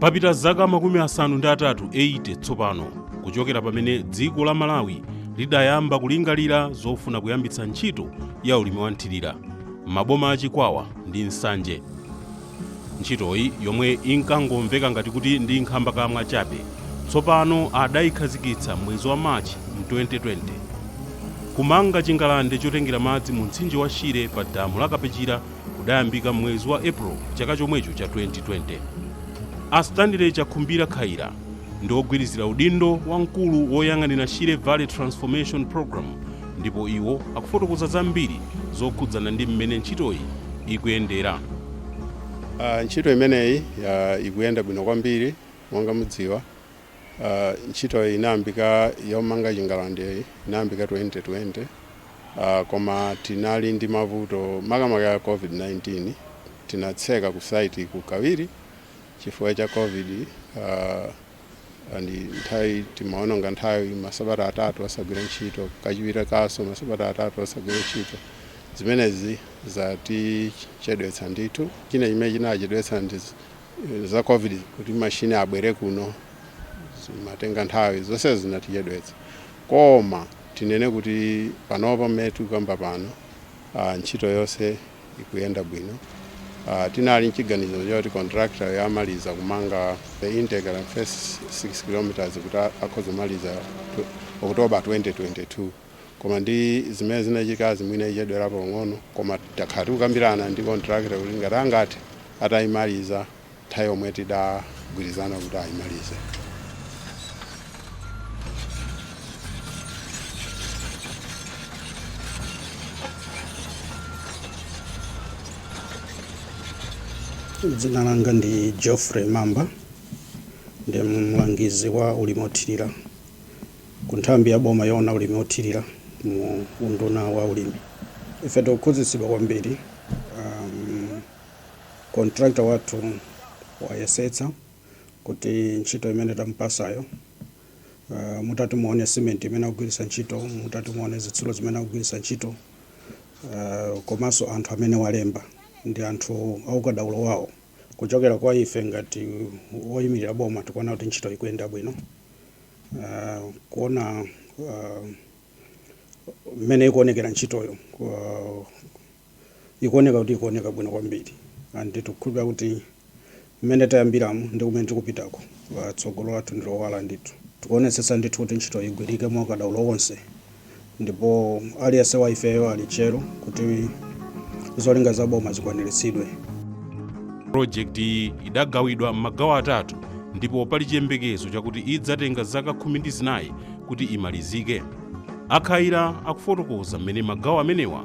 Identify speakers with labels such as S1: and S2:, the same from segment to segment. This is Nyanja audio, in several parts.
S1: papita zaka makumi asanu ndi atatu 80 tsopano kuchokera pamene dziko la malawi lidayamba kulingalira zofuna kuyambitsa ntchito ya ulimi wa nthirira m'maboma a chikwawa ndi nsanje Ntchitoyi, yomwe inkangomveka ngati kuti ndi nkhambakamwa chabe, tsopano adaikhazikitsa m'mwezi wa March m'2020. Kumanga chingalande chotengera madzi mumtsinje wa Shire pa damu la Kapechira kudayambika m'mwezi wa April chaka chomwecho cha 2020. A Stanley Chakhumbira Khaila ndi wogwirizira udindo wa mkulu woyang'anira Shire Valley Transformation Programme ndipo iwo akufotokoza zambiri zokhudzana ndi mmene ntchitoyi
S2: ikuyendera. Uh, ntchito imeneyi uh, ikuyenda bwino kwambiri monga mudziwa uh, ntchitoyi inayambika yomanga chingalandeyi inayambika 2020 uh, koma tinali ndi mavuto makamaka ya covid-19 tinatseka ku site kukawiri chifukwa cha covid uh, and nthawi timaononga nthawi masabata atatu osagwira ntchito kachiwiri kaso masabata atatu osagwira ntchito zimenezi zatichedwetsa ndithu china chimene chinachedwetsa ndi z- za covid kuti mashini abwere kuno zimatenga nthawi zonse zinatichedwetsa koma tinene kuti panopa mmene tikukamba pano ah, ntchito yonse ikuyenda bwino uh, tinali nchiganizo choti contractor amaliza kumanga the intake and first 6 kilometers kuti akhoza kumaliza oktoba 2022 koma ndi zimene zinachitikazi mwina ichedwerapo pang'ono koma takhala tikukambirana ndi contractor kuti ngati angathe atayimaliza nthawi yomwe tidagwirizana kuti
S3: ayimalize. Dzina langa ndi Geoffrey Mamba, ndi mlangizi wa ulimi othirira ku nthambi ya boma yoona ulimi othirira mu unduna wa ulimi. Ife tikukhutitsidwa kwambiri um, Contractor wathu wayesetsa kuti ntchito imene tamupasayo uh, mutati muone cement imene akugwiritsa ntchito mutati muone zitsulo zimene akugwiritsa ntchito uh, komanso anthu amene walemba ndi anthu aukadaulo wawo kuchokera kwa ife ngati woyimirira boma tikuona kuti ntchito ikuyenda bwino uh, kuona uh, mmene ikuonekera ntchitoyo uh, ikuoneka kuti ikuoneka bwino kwambiri and tikukhulupira kuti mmene tayambiramo ndi kumene tikupitako uh, tsogolo lathu ndi lowala ndithu tikuonetsetsa ndithu kuti ntchito igwirike mwa ukadaulo wonse ndipo aliyense wa ifeyo ali tcheru kuti zolinga za boma
S1: zikwaniritsidwe project iyi idagawidwa m'magawo atatu ndipo pali chiyembekezo chakuti idzatenga zaka khumi ndi zinayi kuti imalizike a Khaila akufotokoza mmene magawo amenewa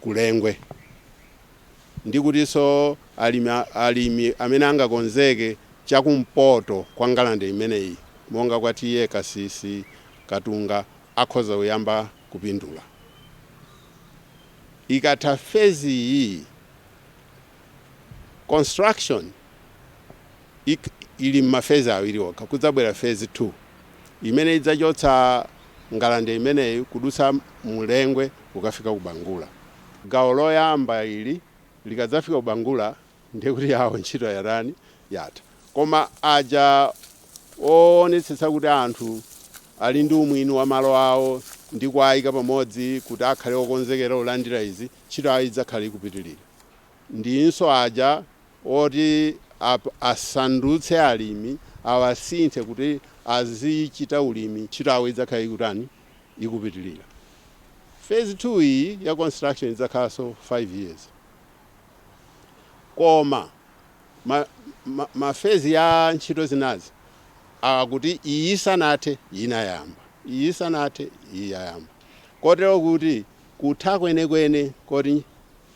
S2: ku Lengwe ndi kutinso alimi amene angakonzeke cha kumpoto kwa ngalande imeneyi monga kwa TA Kasisi, Katunga akhoza kuyamba kupindula. Ikatha fezi iyi, construction. ili m'ma phase awiri okha. Kudzabwera phase 2 imene idzachotsa ngalande imeneyi kudutsa mu Lengwe kukafika ku Bangula. Gawo loyamba ili likadzafika ku Bangula ndiye kuti yawo ntchito yatani? Yatha. Koma aja oonetsetsa kuti anthu ali ndi umwini wa malo awo ndi kuwaika pamodzi kuti akhale okonzekera kulandira izi, ntchito yawo idzakhala ikupitirira. Ndinso aja. oti asandutse alimi awasinthe kuti azichita ulimi ntchito yawo idzakhala ikutani ikupitilira phase 2 iyi ya construction idzakhalanso 5 years koma ma, ma, ma phase ya ntchito zinazi akuti iyi isanathe inayamba iyi isanathe iyi yayamba kotero kuti kutha kwenekwene ko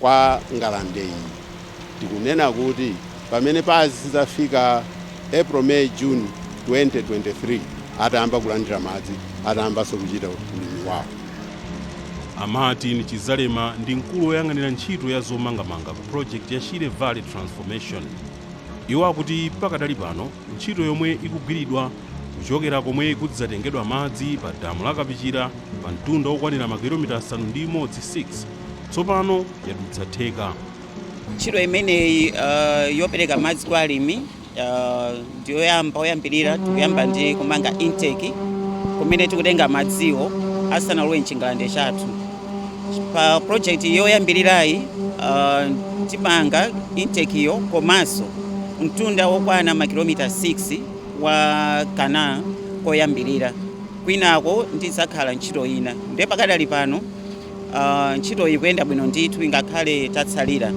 S2: kwa ngalande iyi. Tikunena kuti pamene pazidzafika April, May, June 2023 atayamba kulandira madzi, atayambanso kuchita ulimi wawo. A
S1: Martin Chizalema ndi mkulu woyang'anira ntchito ya zomangamanga ku project ya Shire Valley Transformation. Iwo akuti pakadali pano ntchito yomwe ikugwiridwa kuchokera komwe kudzatengedwa madzi pa damu la Kapichira pa mtunda wokwanira makilomita asanu ndi imodzi 6, tsopano yadutsa theka
S4: ntchito imeneyi uh, yopereka madzi kwa alimi uh, ndiyoyamba oyambirira tikuyamba ndi kumanga intake kumene tikutenga madziwo asanalowe mchingalande chathu pa project yoyambirirayi uh, timanga intake yo komanso mtunda wokwana makilomita 6 wa canal koyambirira kwinako ndidzakhala ntchito ina ndiye pakadali pano Uh, ntchitoyi ikuyenda bwino ndithu ingakhale tatsalira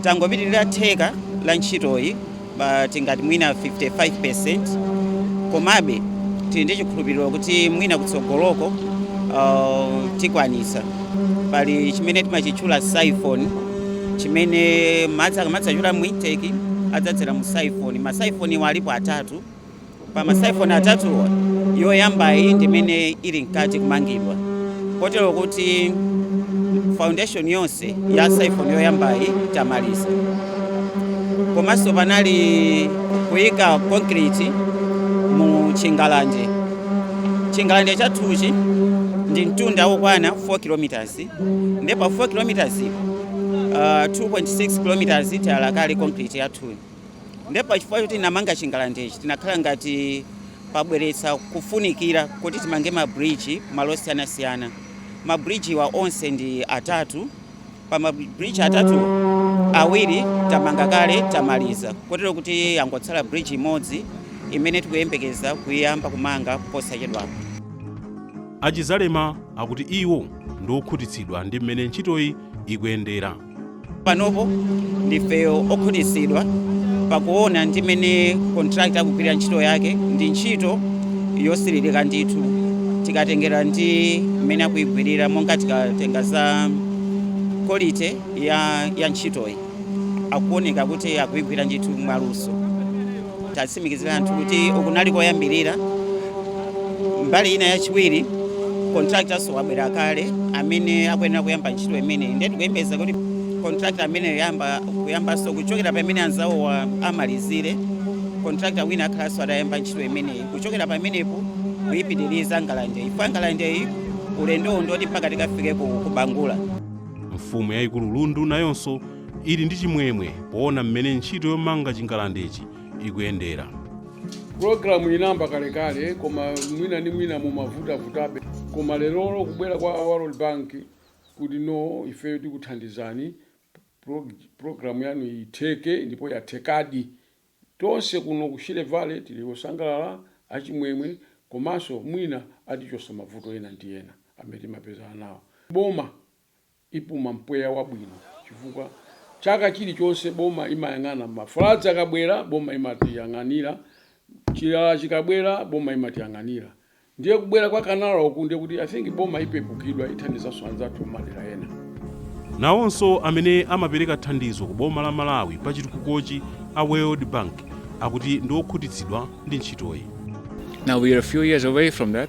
S4: tangopitirira theka la ntchitoyi tingati mwina 55% komabe tili ndi chikhulupiriro kuti mwina kutsogoloko uh, tikwanitsa pali chimene timachitchula siphon chimene madzi akamadzachoka mu intake adzadzera mu siphon ma siphon wa alipo atatu pa ma siphon atatuwa yoyambayi ndi imene ili mkati kumangidwa kotero kuti foundation yonse ya siphon yoyambayi tamaliza komanso panali kuyika concrete mu chingalande chingalande chathuchi ndi mtunda wokwana 4 kilometers nde pa 4 kilometers uh, 2.6 kilometers tayala kale concrete yathuyi Nde pa chifukwa choti tinamanga chingalandechi tinakhala ngati pabweretsa kufunikira kuti timange ma bridge malo osiyanasiyana. Ma bridge wa onse ndi atatu, pa ma bridge atatuwo awiri tamanga kale tamaliza kotero kuti yangotsala bridge imodzi imene tikuyembekeza kuyiyamba kumanga posachedwapa. A Chizalema
S1: akuti iwo ndi okhutitsidwa ndi m'mene ntchitoyi ikuyendera.
S4: panopo ndife okhutitsidwa pakuona ndi mmene contractor akugwirira ntchito yake ndi ntchito yosiririka ndithu tikatengera ndi mmene akuyigwirira monga tikatenga za quality ya, ya ntchitoyi akuoneka kuti akuyigwira ndithu mwaluso titsimikizire anthu kuti ukunali koyambirira mbali ina yachiwiri contractornso wabwera kale amene akuyenera kuyamba ntchito imeneyi ndiye tikuyembeza kuti contractor amene kuyambanso kuchokera pamene anzawowa amalizire contractor wina akhalanso atayamba ntchito imeneyi kuchokera pamenepo kuyipitiriza ngalandeyi pa ngalandeyi ulendowu ndoti mpaka tikafike ku bangula mfumu
S1: yayikulu lundu nayonso ili ndi chimwemwe poona mmene ntchito yomanga chingalandechi ikuyendera
S5: pulogalamu inayamba kalekale koma mwina ndi mwina imavutavutabe koma lerolo kubwera kwa world bank kuti no ifeyo tikuthandizani pro- pulogalamu yanu itheke ndipo yathekadi tonse kuno ku shire valley tili osangalala achimwemwe komanso mwina atichosa mavuto ena ndi ena amene timapezana nawo boma ipuma mpweya wabwino chifukwa chaka chilichonse boma imayang'ana ma floods akabwera boma imatiyang'anira, chilala chikabwera boma imatiyang'anira ndiye kubwera kwa canal uku ndiye kuti I think boma ipepukidwa ithandizanso anzathu mmadera ena. Nawonso
S1: amene amapereka thandizo ku boma la Malawi pa chitukukochi a World Bank akuti ndi okhutitsidwa ndi ntchitoyi. Now we are
S6: a few years away from that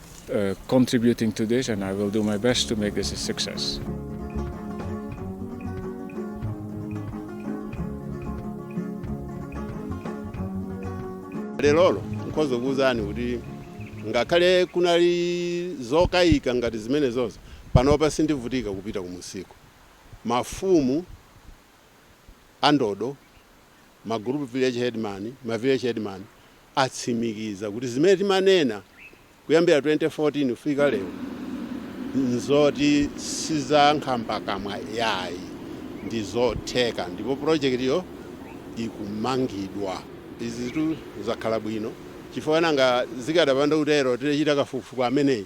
S6: uh, contributing to this and I will do my best to make this a success.
S2: lerolo nkhoza kuwuzani kuti ngakhale kunali zokayika ngati zimenezozo panopa sindivutika kupita kumusiko mafumu andodo ma group village headman, ma village headman atsimikiza kuti zimene timanena kuyambira 2014 kufika lero nzoti sizankhambakamwa yayi ndizotheka ndipo project yo ikumangidwa izizitu zakhala bwino chifukwa nanga zikadapanda kutero tidachita kafukufuku ameneyi